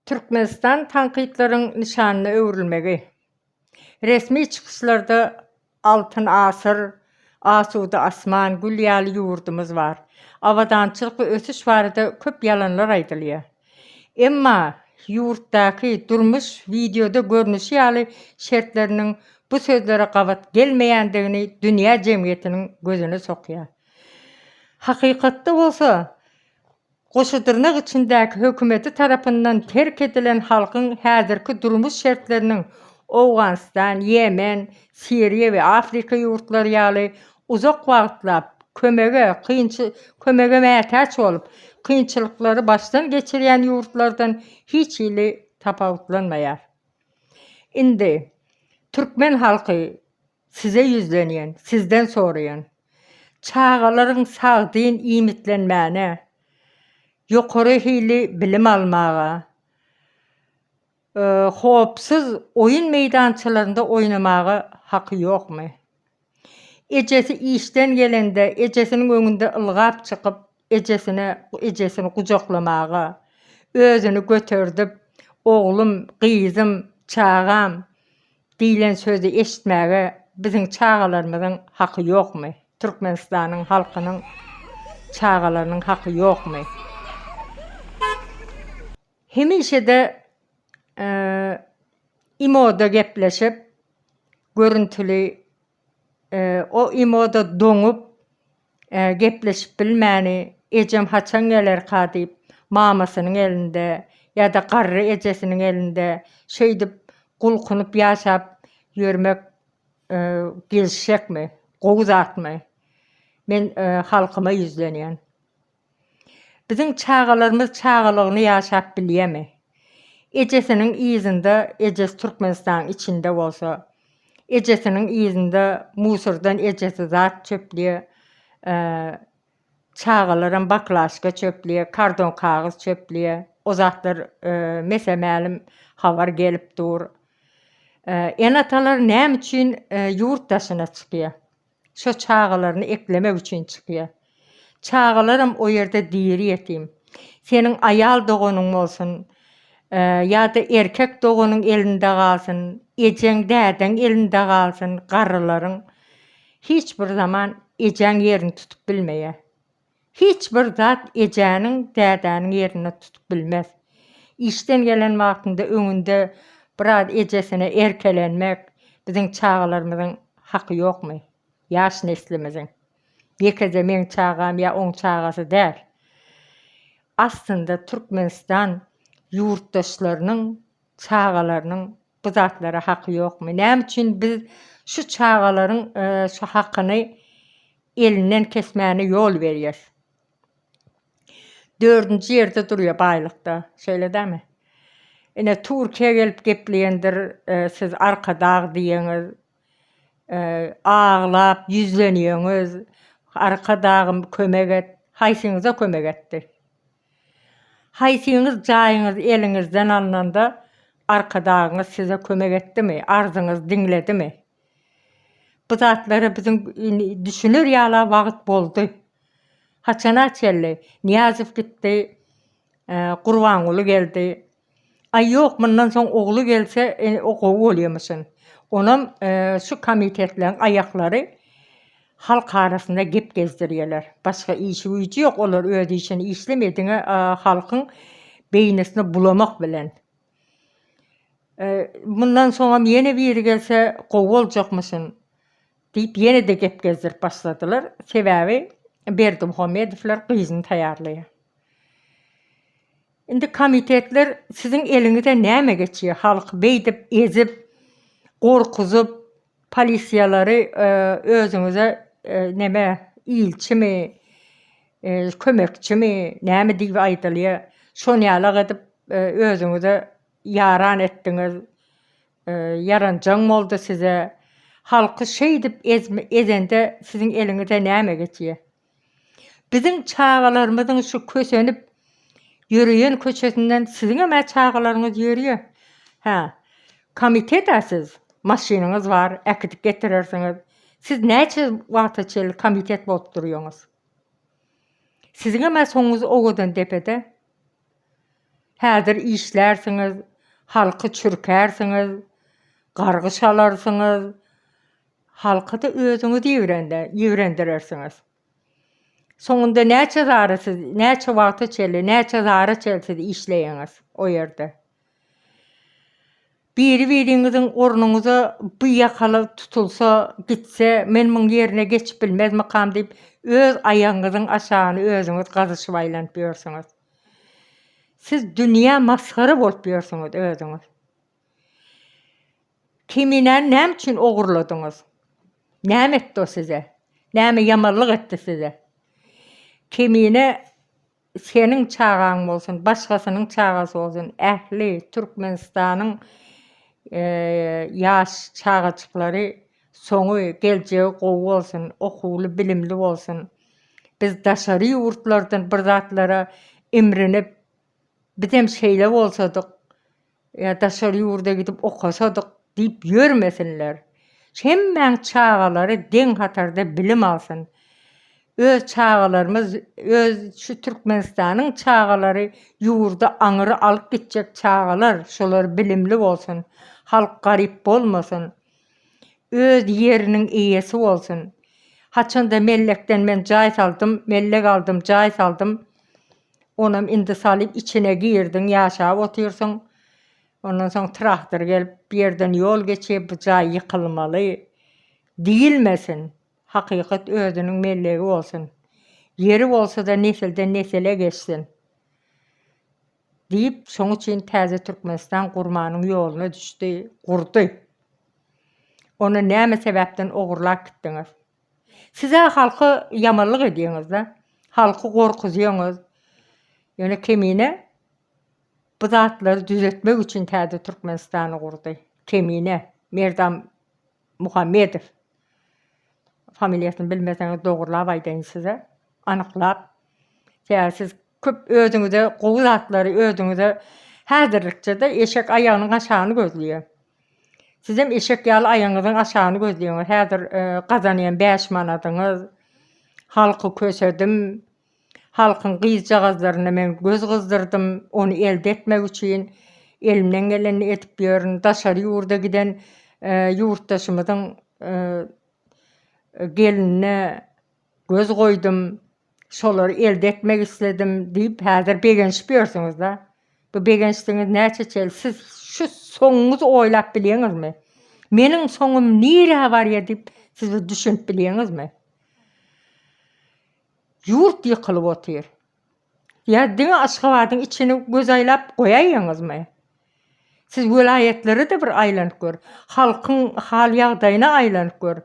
Türkmenistan tankytlaryň nyşanyna öwrülmegi, resmi çykyşlarda Altyn asyr, asuda asman, gül ýaly ýurdumyz bar. Abadançylyk we ösüş barada köp ýalanlar aýdylýar. Emma ýurtdaky durmuş wideoda görnüşi ýaly şertleriniň bu sözlere gabat gelmeýändigini dünýä jemgyýetiniň gözüne sokýar. Hakykatda bolsa, goşudyrnak içindäki hökümeti tarapyndan terk edilen halkyň häzirki durmuş şertleriniň Owganystan, Ýemen, Siriýa we Afrika ýurtlary ýaly uzak wagtlap kömege kömege mätäç bolup, kynçylyklary başdan geçirýän ýurtlardan hiç hili tapawutlanmaýar. Indi türkmen halky Size ýüzlenýän, sizden soraýan. Çagalaryň sagdyn iýmitlenmäne, ýokary hili bilim almaga, howpsuz oýun meýdançalarynda oýnamaga haky ýokmy? Ejesi işden gelende, ejesiniň öňünde ylgap çykyp, Ejesine, ejesini gujaklamaga, özüni göterdip, oglum, gyzym, çagam diýlen sözi eşitmäge biziň çagalarymyzyň haky ýokmy? Türkmenistanyň halkynyň çagalarynyň haky ýokmy? Hemişe-de imo-da gepleşip, görüntüli O imoda doňup, gepleşip bilmäni, ejem haçan gelerka diýip, mamasynyň elinde ýa-da garry ejesiniň elinde şeýdip gulkunyp ýaşap ýörmek gelişjekmi, gowy zatmy? Men halkyma ýüzlenýän. Biziň çagalarymyz çagalygyny ýaşap bilýärmi? Ejesiniň yzynda ejesi Türkmenistanyň içinde bolsa, ejesiniň yzynda musordan ejesi zat çöplýär, çagalaram baklaşka çöplýär, kardon kagyz çöplýär. O zatlar mese-mälim habar gelip dur. Ene-atalar näme üçin ýurt daşyna çykýar? Şo çagalaryny eklemek üçin çykýa. Çagalaram o ýerde diri ýetim. Seniň aýal doganyň bolsun, ýa-da erkek doganyň elinde galsyn, ejeň, dädeň elinde galsyn, garrylaryň hiç bir zaman ejeň ýerini tutup bilmeýä. Hiç bir zat ejäniň, dädäniň ýerini tutup bilmez. Işden gelen wagtynda öňünde biraz ejesine erkelenmek biziň çagalarymyzyň haky ýokmy? Ýaş neslimiziň. Ýekeje meň çagam ýa oň çagasy däl. Aslynda Türkmenistan ýurtdaşlarynyň çagalarynyň Bu zatlara haky ýokmy? Näme üçin biz şu çagalaryň şu hakyny elinden kesmäne ýol berýäs? Dördünji ýerde durýa baýlykda. Şeýle dämi? Ine Türkiýe gelip gepleýendir siz arkadag diýeniz. Aglap ýüzlenýeňiz. Arkadagym kömek et. Haýsyňyza kömek etdi? Haýsyňyz jaýyňyz eliňizden alnanda Arkadagyňyz size kömek etdimi, arzyňyzy diňledimi? Bu zatlara biziň düşüner ýala wagyt boldy. Haçana çenli Nyýazow gitdi, Gurbanguly geldi. Aý ýok, mundan soň ogly gelse o gowy bolýamyşyn. Onam şu komitetleň aýaklary halk arasynda gep gezdirýeler. Başga işi-güýji ýok, olar öz işini işlemýe diňe halkyň beýnisini bulamak bilen. Mundan soňam ýene biri gelse gowy boljakmyşyn diýip ýene-de gep gezdirip başladylar. Sebäbi Berdimuhamedowlar gyzyny taýýarlaýa. Indi komitetler siziň eliňize näme geçýär halky beýdip ezip gorkuzyp polisiýalary özüňize neme ilçimi kömekçimi näme diýip aýdylýar şon ýalak edip özüňize ýaran etdiňiz ýaranjaň boldy size halky şeýdip ezende siziň eliňize näme geçýär Biziň çagalarymyzyň şu kösenip ýöreýän köçesinden siziňem-ä çagalaryňyz ýörýär. Hä, komitet-ä siz, maşynyňyz bar, äkidip getirersiňiz. Siz näçe wagta çenli komitet bolup durýaňyz? Siziňem-ä soňuňyz owadan depede. Häzir işlärsiňiz, halky çürkärsiňiz, gargy şalarsyňyz, Halky-da özüňiz ýigrende, ýigrendirersiňiz. Soňunda näçe zara siz, näçe wagta çenli, näçe zara çenli siz işleýäňiz o ýerde? Biri-biriňiziň ornuňyza bu ýakaly tutulsa, gitse, men muň ýerine geçip bilmezmikam diýip, öz aýagyňyzyň aşagyny özüňiz gazyşyp aýlanyp ýörsüňiz. Siz dünýä masgara bolup ýörsüňiz özüňiz. Kiminäni näme üçin ogurladyňyz? Näme etdi o size? Näme ýamanlyk etdi size? Kemine seniň çagaň bolsun, başgasynyň çagasy bolsun, ähli Türkmenistanyň ýaş çagajyklary soňy, geljegi gowy bolsun, okuwly, bilimli bolsun. Biz daşary ýurtlardan bir zatlara imrinip, Bizem şeýle bolsadyk, ýa daşary ýurda gidip okasadyk diýip ýörmesinler. Hemmäň çagalary deň hatarda bilim alsyn. Öz çagalarymyz, öz şu Türkmenistanyň çagalary ýurda aňyry alyp gitjek çagalar, şolar bilimli bolsun. Halk garyp bolmasyn. Öz ýeriniň eýesi bolsun. Haçanda mellekden men jaý saldym, mellek aldym, jaý saldym. Onam indi salyp içine girdiň, ýaşap otyrsyň. Ondan soň traktor gelip, bu ýerden ýol geçip, bu jaý ýykylmaly diýilmesin. Hakykat özüniň mellegi bolsun. Ýeri bolsa-da nesilden-nesele geçsin. Diýip, şoň üçin täze Türkmenistan gurmanyň ýoluna düşdi, gurdy. Ony näme sebäpden ogurlap gitdiňiz? Siz-ä halka ýamanlyk edýäňiz-dä. Halky gorkuzýaňyz. Ýöne Kemine bu zatlary düzetmek üçin täze Türkmenistany gurdy. Kemine. Merdam Muhammedow. Familiýasyny bilmeseňiz dogurlap aýdaýyn size. Anyklap. Sebäbi siz Köp özüňize gowy zatlary özüňize häzirlikçede eşek aýagynyň aşagyny gözleýär. Sizem eşek ýaly aýagyňyzyň aşagyny gözleýäňiz. Häzir gazanýan bäş manadyňyz, halky kösedim, halkyň gyzjagazlaryna men göz gyzdyrdym, ony elde etmek üçin elimden gelenini edip ýörün. Daşary ýurda giden ýurtdaşymyzyň gelinine göz goýdum. Şolary elde etmek isledim diýip, häzir begenişip ýörsüňiz-dä. Bu begenişdigiňiz näçe çel? Siz şu soňuňyzy oýlap bilýeňizmi? Meniň soňum nirä barýar diýip, siz bir düşünip bilýeňizmi? Ýurt ýykylyp otyr. Ýa diňe Aşgabadyň içini göz aýlap goýaýýaňyzmy? Siz welaýatlary-da bir aýlanyp gör. Halkyň hal-ýagdaýyna aýlanyp gör.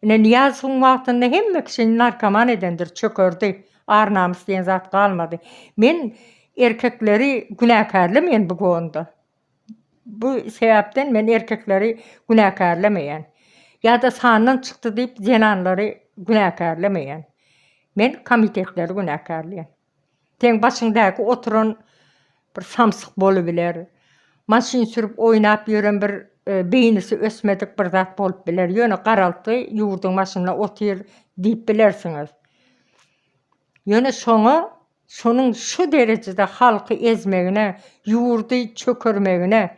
Ine, Nyýazowyň wagtynda hemme kişini narkoman edendir, çökerdi. Ar-namys diýen zat galmady. Men erkekleri günäkärlemeýän bu gonda. Bu sebäpden men erkekleri günäkärlemeýän. Ýa-da sandan çykdy diýip zenanlary günäkärlemeýän. Men komitetleri günäkärleýän. Seň başyňdäki oturan bir samsyk bolubiler. Maşyn sürüp oýnap ýören bir beýnisi ösmedik bir zat bolup biler. Ýöne garaltgy ýurduň başynda otyr diýip bilersiňiz. Ýöne şoňa şonuň şu derejede halky ezmegine, ýurdy çökermegine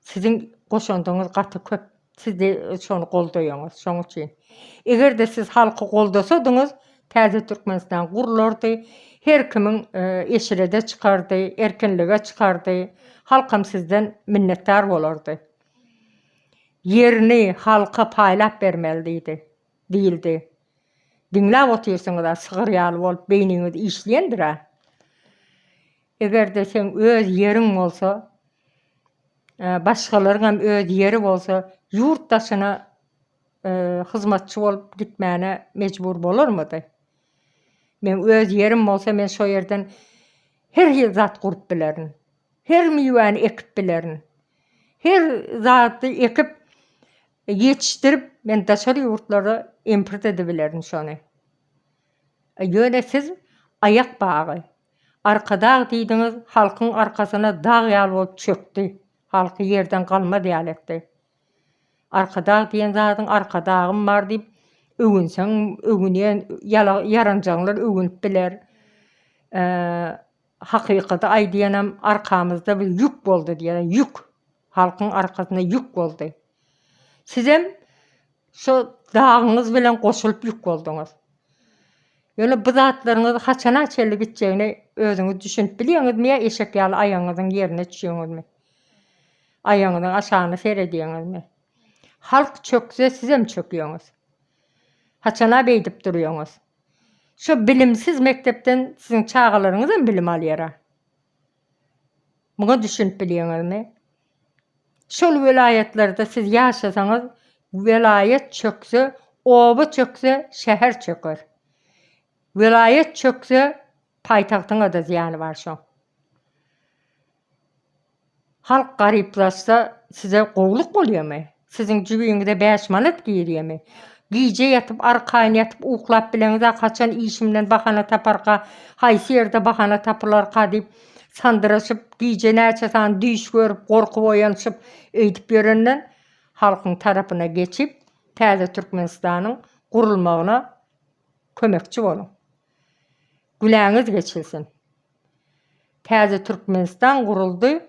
Siziň goşandyňyz gaty köp, siz şony goldaýaňyz, şoň üçin. Eger-de siz halky goldasadyňyz, täze Türkmenistan gurlardy, her kimiň eşrede çykardy, erkinlige çykardy, halkam sizden minnetdar bolardy. Ýerini halka paýlap bermeli diýdi, diýildi. Diňläp otyrsyňyz-a, sygyr ýaly bolup beýniňiz işleýändir-ä. Eger-de seň öz ýeriň bolsa, başgalaryňam öz ýeri bolsa, ýurt daşyna hyzmatçy bolup gitmäne mejbur bolarmydy? Meň öz ýerim bolsa, men şo ýerden her hil zat gurup bilerin. Her miwäni ekip bilerin. Her zady ekip, ýetişdirip, men daşary ýurtlara import edibilerin şony. Ýöne siz aýak bagy, Arkadag diýdiňiz, halkyň arkasyna dag ýaly bolup çökdi. Halky ýerden galmaz ýaly etdi. Arkadag diýen zadyň Arkadagym bar diýip öwünseň öwünýän ýalanjaňlar öwünip biler. Hakykady aýdýanam arkamyzda bir ýük boldy diýýän, ýük. Halkyň arkasyna ýük boldy. Sizem şo dagyňyz bilen goşulyp ýük bolduňyz. Ýöne bu zatlaryňyz haçana çenli gitjegini özüňiz düşünip bilýäňizmi ýa eşek ýaly aýagyňyzyň ýerine düşýäňizmi? Aýagyňyzyň aşagyna seredýäňizmi? Halk çökse sizem çökýäňiz. Haçana beýdip durýaňyz? Şo bilimsiz mekdepden siziň çagalaryňyzam bilim alýara? Muňa düşünip bilýäňizmi? Şol welaýatlarda siz ýaşasaňyz, welaýat çökse, oba çökse, şäher çöker. Welaýat çökse, paýtagtyňa-da zyýany bar şoň. Halk garyplaşsa, size gowulyk bolýarmy? Siziň jübiňize bäş manat girýemi? Gije ýatyp, arkaýyn ýatyp uklap bileňiz-ä, haçan işimden bahana taparka, haýsy ýerde bahana tapylarka diýip sandyraşyp, gije näçe sany düýş görüp, gorkup oýanyşyp, öýdüp ýörenden, halkyň tarapyna geçip, täze Türkmenistanyň gurulmagyna kömekçi boluň. Günäňiz geçilsin. Täze Türkmenistan guruldy.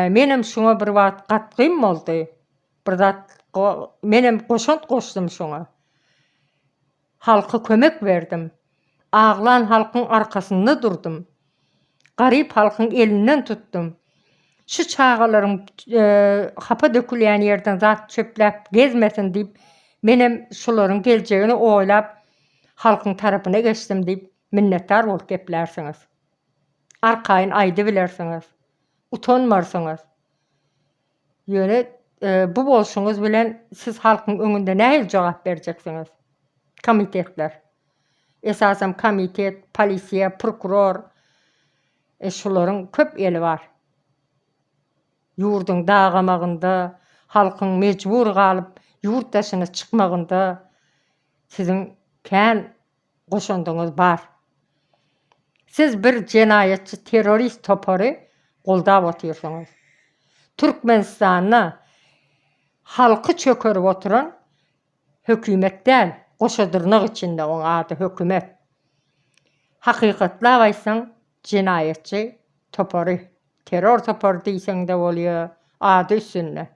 Menem şuňa bir wagt gatgym boldy. Bir zat menem goşant goşdum şuňa. Halka kömek berdim. Aglan halkyň arkasynda durdum. Garyp halkyň elinden tutdum. Şu çagalaryň hapa dökülýän ýerden zat çöpläp gezmesin diýip, menem şularyň geljegini oýlap, halkyň tarapyna geçdim diýip, Minnetdar bolup geplärsiňiz. Arkaýyn aýdybilersiňiz. Utanmarsyňyz. Ýöne bu bolşuňyz bilen siz halkyň öňünde nähili jogap berjeksiňiz? Komitetler. Esasam komitet, polisiýa, prokuror. E, şularyň köp eli bar. Ýurduň dagamagynda, halkyň mejbur galyp ýurt daşyna çykmagynda siziň kän goşandyňyz bar. Siz bir jenaýatçy terrorist topary goldap otyrsyňyz. Türkmenistanda halky çökerip oturan hökümet däl, goşa dyrnak içinde oň ady hökümet. Hakykatlap aýtsaň jenaýatçy topary, terror topary diýseňde bolýa, ady üstünde.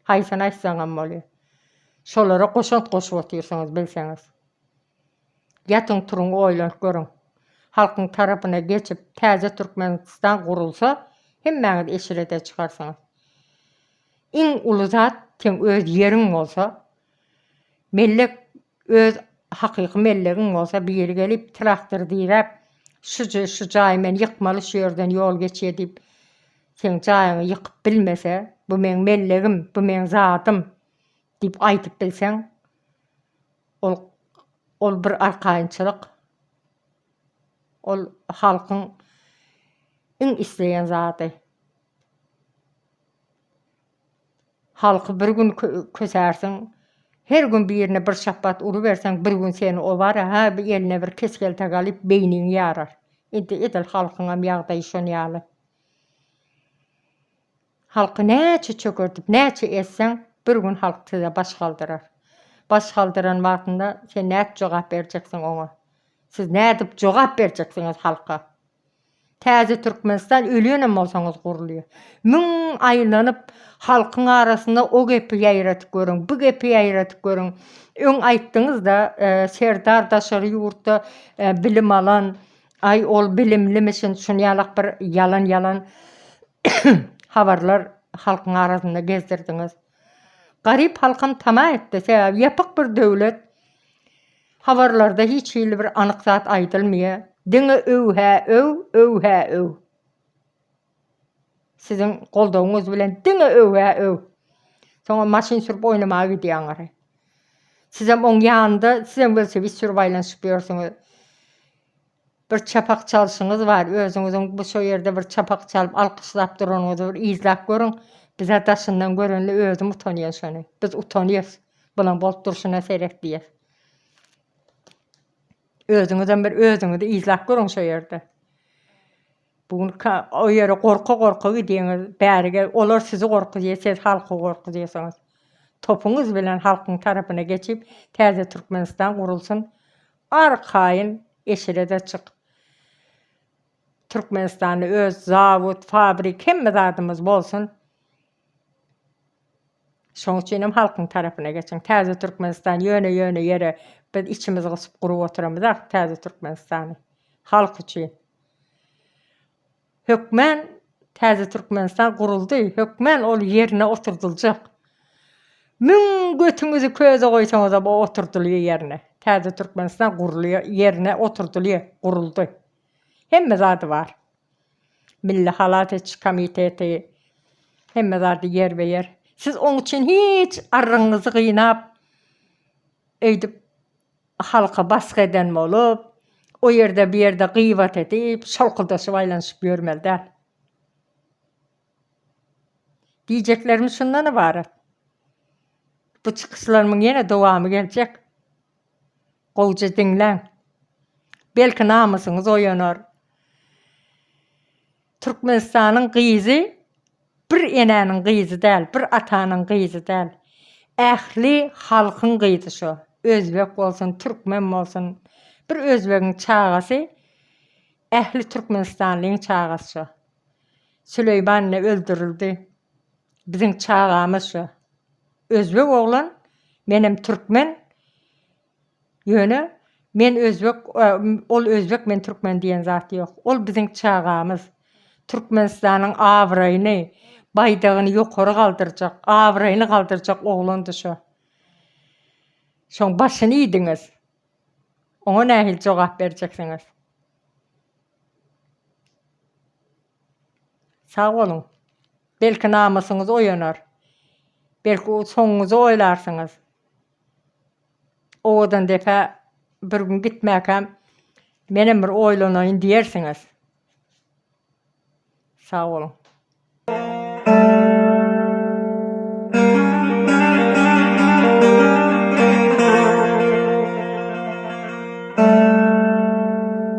Haýsyny aýtsaňam bolýa. Şolara goşant goşup otyrsyňyz bilseňiz. Ýatyň turuň oýlanyp görüň. Halkyň tarapyna geçip täze Türkmenistan gurulsa hemmäňiz eşrete çykarsyňyz. Iň uly zat seň öz ýeriň bolsa, mellek öz hakyky mellegiň bolsa biri gelip traktor diräp şuje şu jaýy men ýykmaly şu ýerden ýol geçýä diýip seň jaýyňy ýykyp bilmese bu meň mellegim bu meň zadym diýip aýdyp bilseň Ol ol bir arkaýynçylyk. Ol halkyň iň isleýän zady. Halky bir gün kösärsiň, her gün birine bir şapbat uruberseň, bir gün seni obara, hä bir eline bir kes-kelte galyp, beýniňi ýarar. Indi edil halkyňam ýagdaýy şon ýaly. Halky näçe çökertip, näçe ezseň, bir gün halk size baş galdyrar. Baş galdyran wagtynda sen nädip jogap berjeksiň oňa? Siz nädip jogap berjeksiňiz halka? Täze Türkmenistan ölenem bolsaňyz gurulýar. Müň aýlanyp, halkyň arasynda o gepi ýaýradyp görüň, bu gepi ýaýradyp görüň. Öň aýtdyňyz-da, Serdar daşary ýurtda bilim alan, Aý ol bilimlimisin şunýalak bir ýalan ýalan habarlar halkyň arasynda gezdirdiňiz. Garyp halkam tama etdi sebäbi ýapyk bir döwlet habarlarda hiç hili bir anyk zat aýdylmýa diňe öw hä öw öw hä öw. Siziň goldawyňyz bilen diňe öwä öw. Soňam maşyn sürüp oýnamaga gidýäňiz. Sizem oň ýanynda sizem welosiped sürüp aýlanyşyp ýörsüňiz. Bir çapak çalşyňyz bar, özüňiziň bu şo ýerde bir çapak çalyp alkyşlap duranyňyzy bir yzlap görüň. Bizä daşyndan görende özüm utanýan şony. Biz utanýas. Bulan bolup durşuna seret diýýäs. Özüňizem bir özüňizi yzlap görüň şo ýerde. Bu gün ka o ýere gorka gorka gidýäňiz bäri ge olar sizi gorkuzýa siz halky gorkuzýasyňyz. Topuňyz bilen halkyň tarapyna geçip täze Türkmenistan gurulsyn arkaýyn eşirede çyk. Türkmenistanda öz zawod, fabrik hemme zadymyz bolsun. Şoň üçinem halkyň tarapyna geçiň. Täze Türkmenistan ýöne ýöne ýere biz içimiz gysyp gurup oturamyz ah täze Türkmenistany. Halk üçin. Hökmän täze Türkmenistan guruldy, hökmän ol ýerine oturdyljak. Müň götüňizi köze goýsaňyzam o oturdylýa ýerine. Täze Türkmenistan gurulýa ýerine oturdylýa, guruldy. Hemme zady bar. Milli halas ediş komiteti hemme zady ýerbe-ýer. Siz oň üçin hiç arrygyňyzy gynap, öýdüp halka basgy eden bolup, o ýerde, bu ýerde gybat edip, şolkudaşyp aýlanyşyp ýörmeli däl. Diýjeklerim şundan ybarat. Bu çykyşlarymyň ýene dowamy geljek. Gowja diňläň. Belki namysyňyz oýanar. Türkmenistanyň gyzy bir enäniň gyzy däl, bir atanyň gyzy däl. Ähli halkyň gyzy şo. Özbek bolsun, türkmen bolsun. Bir özbegiň çagasy ähli türkmenistanlyň çagasy şo. Süleýman ine öldürildi. Biziň çagamyz şu özbek oglan menem türkmen ýöne men özbek ol özbek men türkmen diýen zat ýok ol biziň çagamyz Türkmenistanyň abraýyny baýdagyny ýokary galdyrjak abraýyny galdyrjak oglandy şu şoň başyny iýdiňiz oňa nähili jogap berjeksiňiz sag boluň. Belki namysyňyz oýanar. Belki soňuňyzy oýlarsyňyz. Owadan depä bir gün gitmäkäm menem bir oýlanaýyn diýersiňiz. Sag boluň.